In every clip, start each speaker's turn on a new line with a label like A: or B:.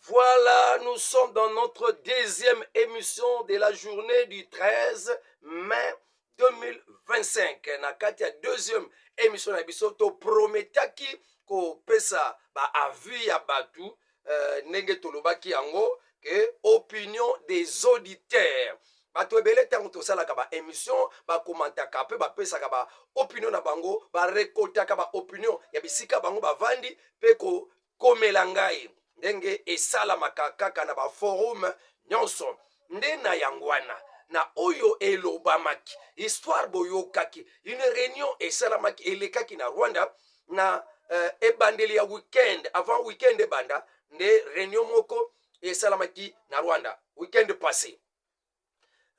A: Voilà, nous sommes dans notre deuxième émission de la journée du 13 mai 2025. Na kati ya deuxième émission na biso to prometaki ko pesa ba avis ya batu euh, ndenge tolobaki yango que opinion des auditeurs. bato ebele ntango tosalaka baémission bakomantaka mpe bapesaka baopinion na bango barekoltaka baopinion ya bisika bango bavandi mpe komela ngai ndenge esalamaka kaka na baforume nyonso nde na yango wana na oyo elobamaki histoire boyokaki une réunion esalamaki elekaki na rwanda na euh, ebandeli ya weekend avant weekend ebanda nde réunion moko esalamaki na rwanda weekend passé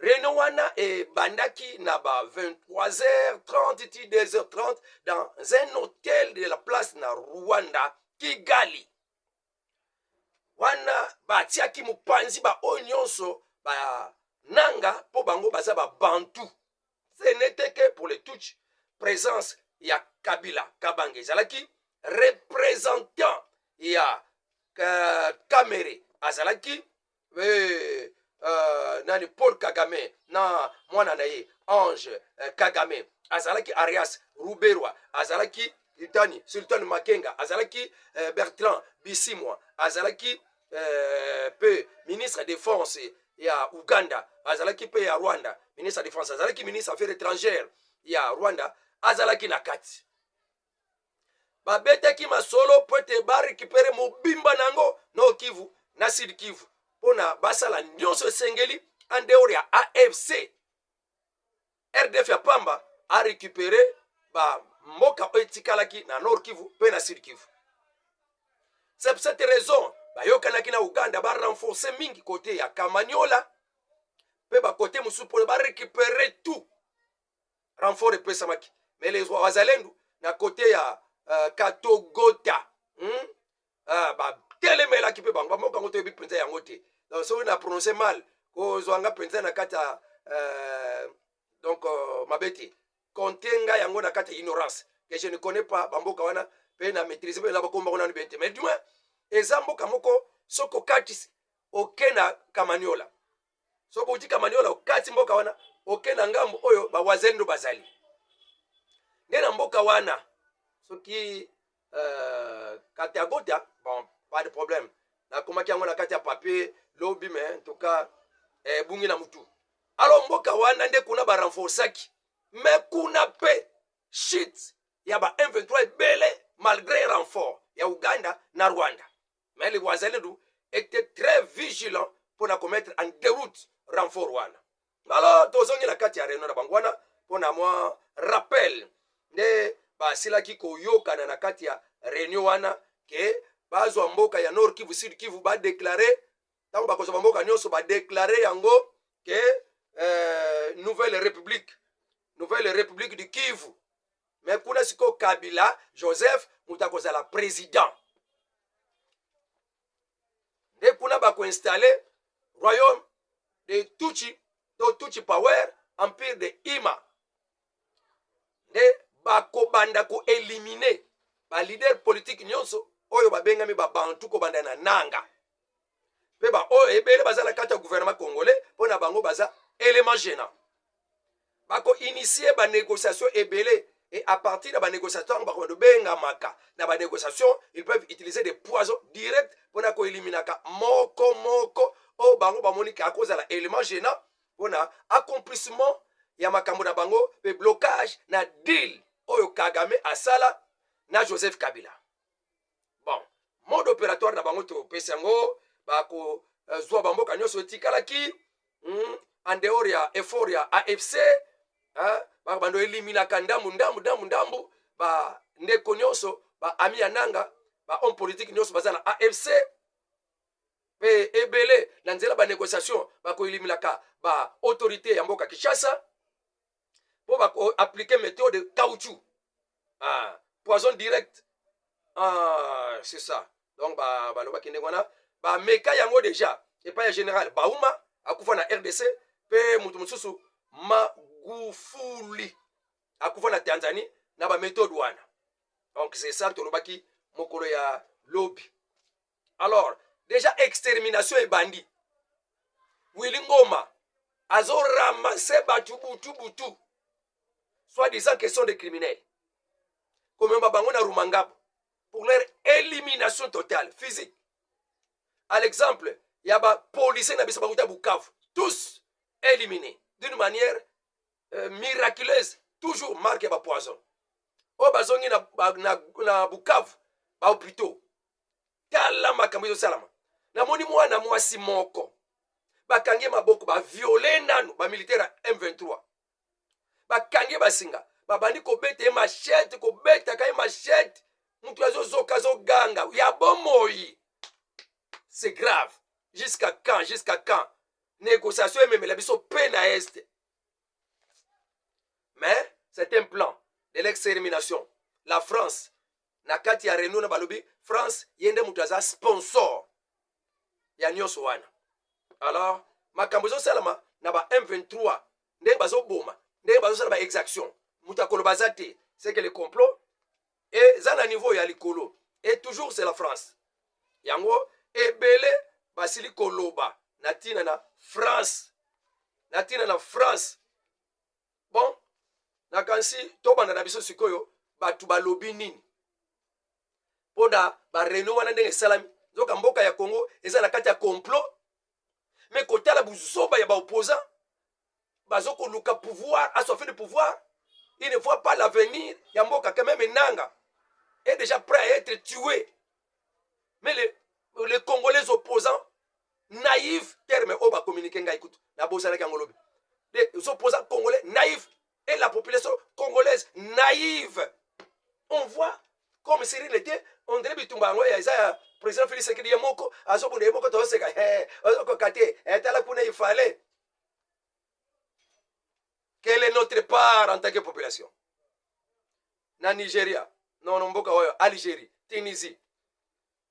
A: Réunion wana ebandaki na ba 23h30 ti 2h30 dans un hôtel de la place na Rwanda, Kigali. Wana batiaki mopanzi ba oyo nyonso ba nanga mpo bango baza ba bantu. Ce n'était que pour les Tutsis présence ya Kabila Kabange ezalaki représentant ya euh, Kamere azalaki eh, uh, nani paul kagame na mwana na ye ange uh, kagame azalaki arias ruberwa azalaki itani sultan makenga azalaki uh, bertrand bisimwa azalaki uh, pe ministre defense ya uganda azalaki pe ya rwanda ministre ya defense azalaki ministre affaire étrangère ya rwanda azalaki na kati babetaki masolo mpo ete barekipere mobimba na yango nord kivu na sud kivu mpo na basala nyonso esengeli andeor ya afc rdf ya pamba arekipere bamboka oyo etikalaki na nord kivu mpe na sud kivu c'est pour cette raison bayokanaki na uganda barenforce mingi kote ya kamaniola mpe bakote mosusu mpo barekipere tout renfort epesamaki mais les wazalendo na kote ya uh, katogota hmm? uh, batelemelaki mpe bango bamoko yango toyebi mpenza yango te donc soki na prononce mal kozwa nga mpenza na kati ya uh, donc uh, mabe te konte nga yango na kati ya ignorance que je ne connais pas bamboka wana mpe na maîtrise mpe na bakomba kuna nibete mais du moins eza mboka moko soki okatisi oke na kamaniola soki outi kamaniola okati mboka wana oke na ngambo oyo bawazendo bazali nde na mboka wana soki uh, katagota bon pas de problème nakomaki yango na kati ya papier lobi me en tout cas ebungi eh, na motu alors mboka wana nde kuna barenforcaki me kuna mpe shit ya ba 23 ebele malgré renfort ya uganda na rwanda mais les wazalendu était très vigilant mpo na komettre en déroute renfort wana alors tozongi na kati ya réunion na bango wana mpo na mwa rappel nde basilaki koyokana na kati ya réunion wana ke bazwa mboka ya nord kivu sud kivu badeklare ntango bakozwa bamboka nyonso badeklare yango ke eh, nouvelle république nouvelle république du kivu me kuna sikoyo kabila joseph moto akozala président nde kuna bakoinstalle royaume de tuchi to tuchi power empire de ima nde bakobanda koelimine balider politike nyonso oyo babengami babantu kobanda na nanga mpe baoyo ebele baza na kati ya guvernema congolais mpo na bango baza element gênant bakoinitie banégociation ebele et à partir de banégociation bakoba tobengamaka na banégociation ils peuvent utiliser des poisons direct mpo na koeliminaka moko moko oyo bango bamoniki akozala element gênant mpo na accomplissement ya makambo na bango mpe blocage na deal oyo kagame asala na joseph kabila bon mode opératoire na bango topesi yango bakozwa bamboka nyonso etikalaki mm, en dehors ya effort ya afc bando eliminaka ndambu ndambu ndambu ndambu bandeko nyonso baami ya nanga bahomme politique nyonso baza na afc mpe ebele na nzela banegociation bakoelimelaka baautorité ya mboka kinshasa mpo bakoaplike methode caoutchou ah, poison direct ah, c'est ça donc balobaki ndenge wana bameka yango deja epai ya général bauma akufa na rdc mpe moto mosusu magufuli akufa na tanzanie na bamethode wana donc c'est ça tolobaki mokolo ya lobi alors deja extermination ebandi wili ngoma azo ramasse batu butu butu soit disant question de criminel komema bango na rumangabo pour leur élimination totale physique à l'exemple ya bapolicier na biso bakuta bukavu tous éliminés d'une manière euh, miraculeuse toujours marque ya bapoison oyo bazongi na, na, na bukavu bahopitaux tala makambo ezosalama namoni mwana mwasi moko bakangi ye maboko baviole nanu bamilitaire ya m23 bakangi ye basinga babandi kobeta ye mashete kobetaka ye mashete moto azozoka azoganga ya bomoi c'est grave jusqu'à quand jusqu'à quand négociation ememela biso pe na este mais c'est un plan de l'extermination la france na kati ya reunion na balobi france ye nde moto aza sponsor ya nyonso wana alors makambo ezosalama na ba m23 ndenge bazoboma ndenge bazosala ba exaction moto akoloba aza te c'est que le complot eza na niveau ya likolo et toujours c'est la france yango ebele basili koloba na ntina na france na ntina na france bon nakanisi tobanda na biso sikoyo bato balobi nini mpo na bareno wana ndenge esalami nzoka mboka ya congo eza na kati ya complot me kotala buzoba ya baopposant bazo koluka pouvoir aswafe de pouvoir il ne voit pas l'avenir ya mboka quand même enanga est déjà prêt à être tué mais les, les congolais opposants naïve terme oyo ba communiquer ngai kutu na bosanaki yango lobi de so posa congolais naïve et la population congolaise naïve on voit comme si rien n'était on dirait bitumba yango eza ya président Félix Tshisekedi ye moko azobunda ye moko toseka eh ozokoka te eh tala kuna il fallait quelle est notre part en tant que population na Nigeria non non mboka oyo Algérie Tunisie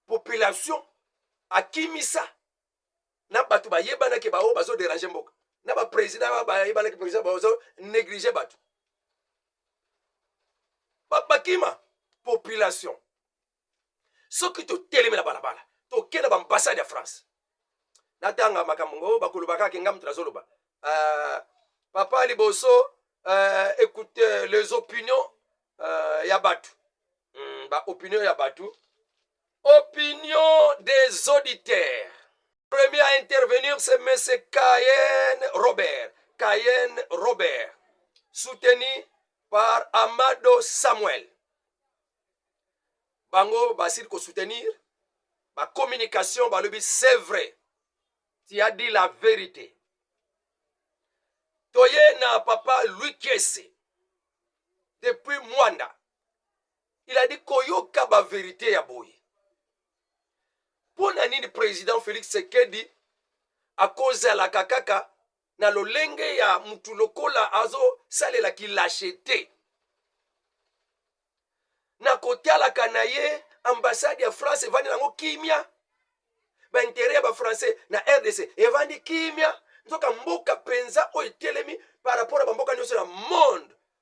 A: population akimisa na bato bayebanaki baoyo bazoderange mboka na bapresident bayebanaki president bazo néglige bato bakima population soki totelemi na balabala tokenda baambassade ya france natanga makambo ngo bakoloba kaka enga moto nazoloba uh, papa liboso uh, écoute les opinions uh, ya bato hmm, ba opinion ya bato opinion des auditeurs premier à intervenir c'est monsieur Cayen Robert Cayen Robert soutenu par Amado Samuel bango basili kosoutenir bacommunication balobi c'est vrai tu as dit la vérité toye na papa louis kiese depuis mwanda il a dit koyoka ba verite ya boye mpo na nini président félix sekedi akozalaka kaka na lolenge ya mutu lokola azosalela kilashe te na kotalaka na ye ambassade ya france evandi nango kimia baintere ya bafrançais na rdc evandi kimia nzoka mboka mpenza oyo etelemi par rapport ya bamboka nyonso na monde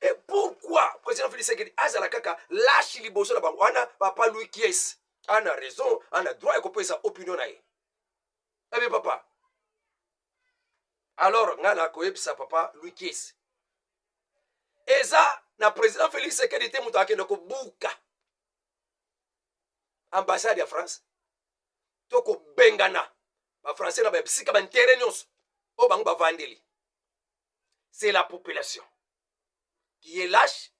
A: et pourquoi président félix sekedi azala kaka lashi liboso na bango wana papa louis kies ana raison ana droit ya kopesa opinion na ye ebe eh papa alors ngai nakoyebisa papa louis kies eza na président félix sekedi te moto akende kobuka ambassade ya france to kobengana bafrançais na bisika bantere nyonso oyo bango bavandeli c'est la population qui est lâche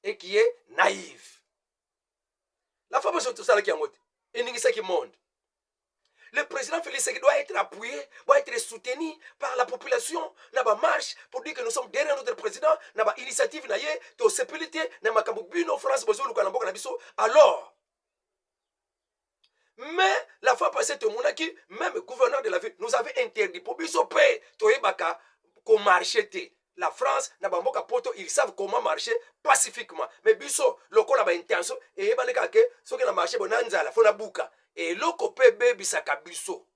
A: et qui est naïve la femme oyo tosalaki yango te eningisaki monde le président Félix Tshisekedi doit être appuyé, doit être soutenu par la population, na ba marche pour dire que nous sommes derrière notre président, na ba initiative na ye, to sepelite na makambo bino France bozo luka na mboka na biso. Alors, mais la fois passé tomonaki même gouverneur de la ville nous avait interdit mpo biso mpe toyebaka komarche te la france na bamboka poto ils savent comment marcher pacifiquement mais biso lokola baintention eyebani kaka ke soki na marché bona nzala fo nabuka eloko mpe ebebisaka biso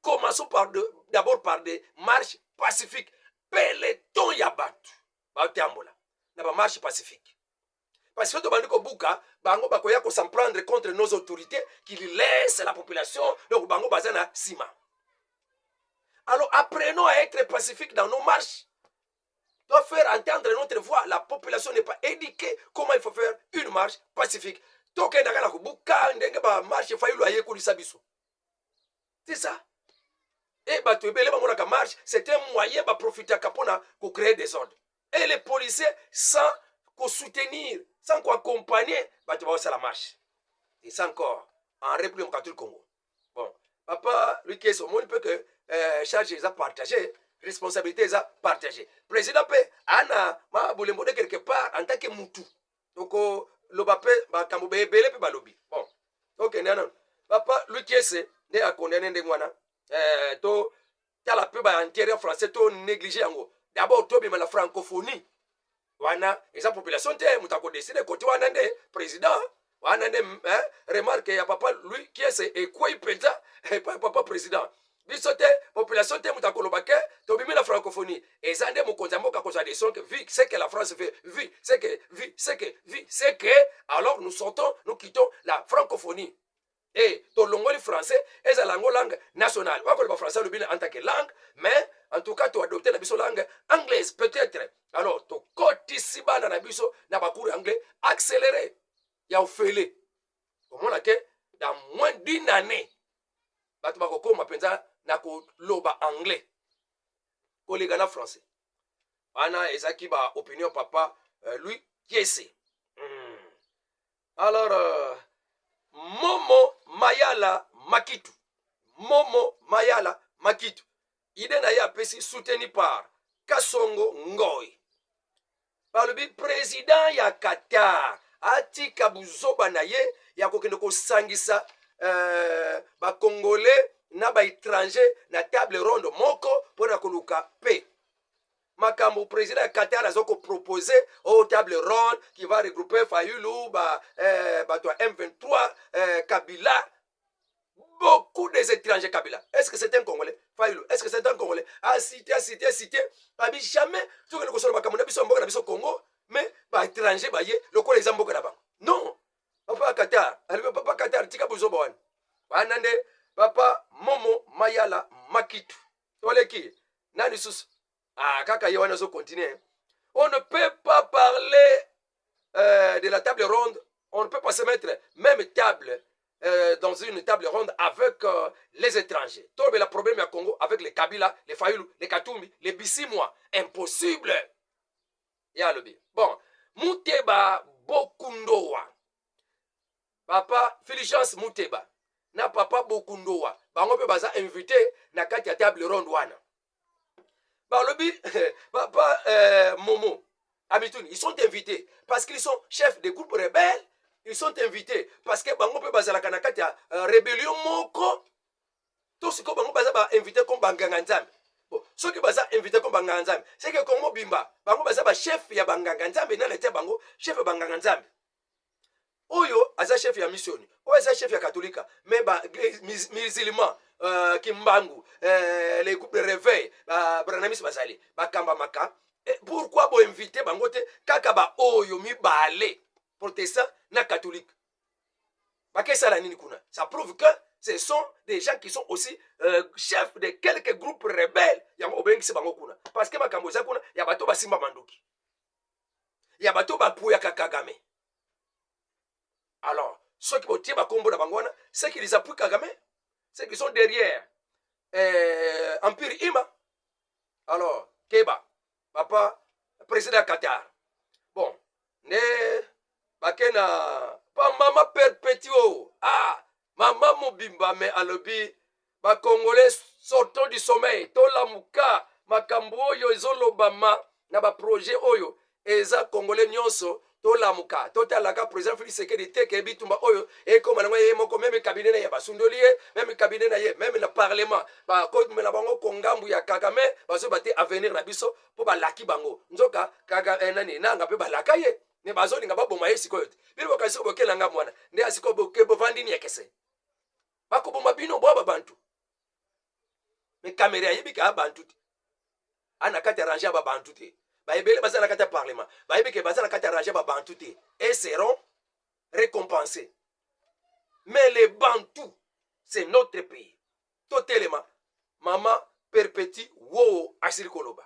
A: commençons par de, d'abord par des marches pacifiques peloton ya bato batambola na bamarche pacifique parce que tobandi kobuka bango bakoya ko s'en prendre contre nos autorités qui laisse la population donc bango baza na nsima alors apprenons à être pacifique dans nos marches doit faire entendre notre voix la population n'est pas éduquée comment il faut faire une marche pacifique tokendaka na kobuka ndenge bamarche fayulu ayekolisa biso c'est ça et bato ebele bamonaka marche c'est un moyen baprofitaka mpona kocree desordre et les policiers sans kosoutenir sans koaccompagner bato baosala marche et ça encore en république démocratique congo bon papa lukes omoni mpe que euh, charge eza partage responsabilité eza partage président mpe ana ma bolembo de quelque part en tant que mutu tokoloba mpe makambo ebele mpe balobi bon tokende okay, nano papa lukiese nde akondane ndenge wana eh, to tala mpe baintere français to néglige yango d'abord tobima na francophonie wana eza population te moto akodeside kote wana nde président wana nde eh, remarke ya papa louis kiese ekwei mpenza epai eh, papa président biso te population te moto akoloba ke tobimi na francophonie eza nde mokonzi ya mboka kozwa decision ke vi ce que la france veut vi ce que vi ce que vi ce que alors nous sortons nous quittons la francophonie e eh, tolongoli français ezala yango langue nationale wakoloba français alobi na antake langue mais en tout cas toadopte na biso langue anglaise peut-être alors tokotisi bana na biso na bacours anglais accéléré ya ofele omona ke dans moins d'une année bato bakokoma mpenza na koloba anglais koleka na français wana ezalaki ba opinion papa uh, louis kiese mm. alors uh, momo mayala makitu momo mayala makitu idee na ye apesi soutenu par kasongo ngoy balobi president ya qatar atika buzoba na ye ya kokende kosangisa uh, bacongolais na baétranger na table ronde moko mpo na koluka pe makambo président ya qatar aza kopropose o oh, table ronde qui va regrouper fayulu ba, eh, bato ya m23 eh, kabila beaucoup des étrangers kabila est ce que c'est un congolais fayulu est ce que c'est un congolais asite asite asite babi jamais tokende kosolo makambo na biso ya mboka na biso congo mais baétranger baye lokola eza mboka na bango non papa qatar alibe papa qatar tika buzoba wana wana nde papa momo mayala makitu toleki na lisusu ah kaka ye wana azo continuer on ne peut pas parler euh, de la table ronde on ne peut pas se mettre même table euh, dans une table ronde avec euh, les étrangers tolobela problème ya congo avec les kabila les fayulu les katumbi les bisimwa impossible ye alobi bon muteba bokundowa papa filigence muteba na papa bokundowa bango mpe baza invité na kati ya table ronde wana balobi papa euh, momo amituni ils sont invités parce qu'ils sont chefs de groupe rebelle ils sont invités parce que bango mpe bazalaka na kati ya euh, rébellion moko to sikoyo bango baza bainvité comme banganga nzambe bon, soki baza invité comme banganga nzambe seke kongo bimba bango baza bachef ya banganga nzambe nani atya bango chef ya banganga nzambe oyo aza chef ya missioni oyo aza chef ya katolika me ba musulman uh, kimbangu uh, le groupe de réveil babranamis bazali bakambamaka eh, pourkui boinvite bango te kaka baoyo mibale protestant na katholike bakesala nini kuna ça prouve que ce sont des gens qui sont aussi euh, chefs de quelques groupes rebelles yango obengisi bango kuna parce que makambo eza kuna ya bato basimba mandoki ya bato oyo bapoyaka kagame alors ceux qui botie bakombo na bango wana ceux qui les appuient kagame ceux qui sont derrière euh, empire ima alors keba papa président ya qatar bon nde bake na pambama perpétue ah mama mobimba me alobi bakongole sortons du sommeil tolamuka makambo oyo ezolobama na baprojet oyo eza kongole nyonso tolamuka totalaka président félix sekedi te ke bitumba oyo ekoma nango ye moko meme kabine na ye basundoli ye meme kabine na ye meme na parlement bakomela bango kongambu ya kagame bazoba te avenir na biso mpo balaki bango nzoka kaga eh, nani nanga mpe balaka ye ne bazolinga baboma ye sikoyo te bino bokanisi soko bokela nga mwana nde ya sikoyo boke bovandi niekese bakoboma bino bwa babantu me kamere ayebi ke abantu te ana kati ya range ya babantu te baebele baza na kati ya parlement bayebi ke baza na kati ya range ya babantu te e seront récompensé mais les bantou c'est notre pays totelema mama perpeti woo asili koloba